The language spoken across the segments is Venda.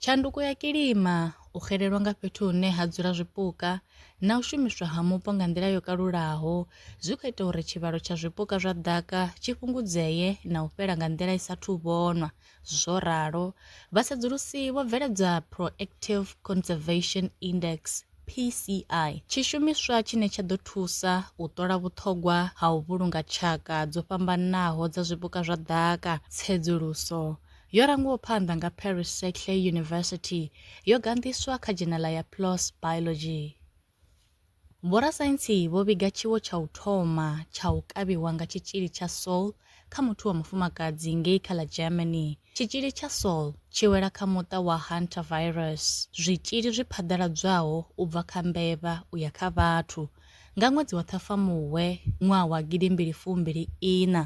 Tshanduko ya kilima, u xelelwa nga fhethu hune ha dzula zwipuka na u shumiswa ha mupo nga nḓila yo kalulaho zwi khou ita uri tshivhalo tsha zwipuka zwa ḓaka tshi fhungudzee na u fhela nga nḓila i sa thu vhonwa, zwo ralo vha sedzulusi vho bveledza Proactive Conservation Index, PCI, tshishumiswa tshine tsha ḓo thusa u ṱola vhuṱhogwa ha u vhulunga tshaka dzo fhambanaho dza zwipuka zwa ḓaka, tsedzuluso, Yo rangiwaho phanḓa nga Paris Saclay University, yo ganḓiswa kha dzhenala ya PLOS Biology. Vhorasaintsi vho vhiga tshiwo tsha u thoma tsha u kavhiwa nga tshitzhili tsha Soll kha muthu wa mufumakadzi ngei kha ḽa Germany. Tshitzhili tsha Soll tshi wela kha muṱa wa Hantavirus, zwitzhili zwi phaḓaladzwaho u bva kha mbevha u ya kha vhathu. Nga ṅwedzi wa Ṱhafamuhwe ṅwaha wa gidimbili fumbili iṋa,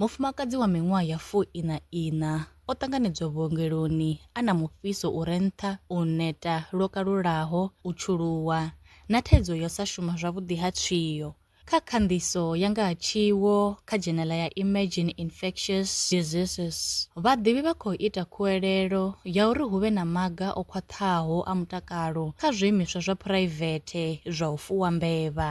Mufumakadzi wa miṅwaha ya fuiṋa-iṋa o ṱanganedzwa vhuongeloni a na mufhiso u re nṱha, u neta lwo kalulaho, u tshuluwa, na thaidzo ya u sa shuma zwavhuḓi ha tswio. Kha khanḓiso ya nga ha tshiwo kha dzhenela ya Emerging Infectious Diseases, vhaḓivhi vha khou ita khuwelelo ya uri hu vhe na maga o khwaṱhaho a mutakalo kha zwiimiswa zwa phuraivethe zwa u fuwa mbevha.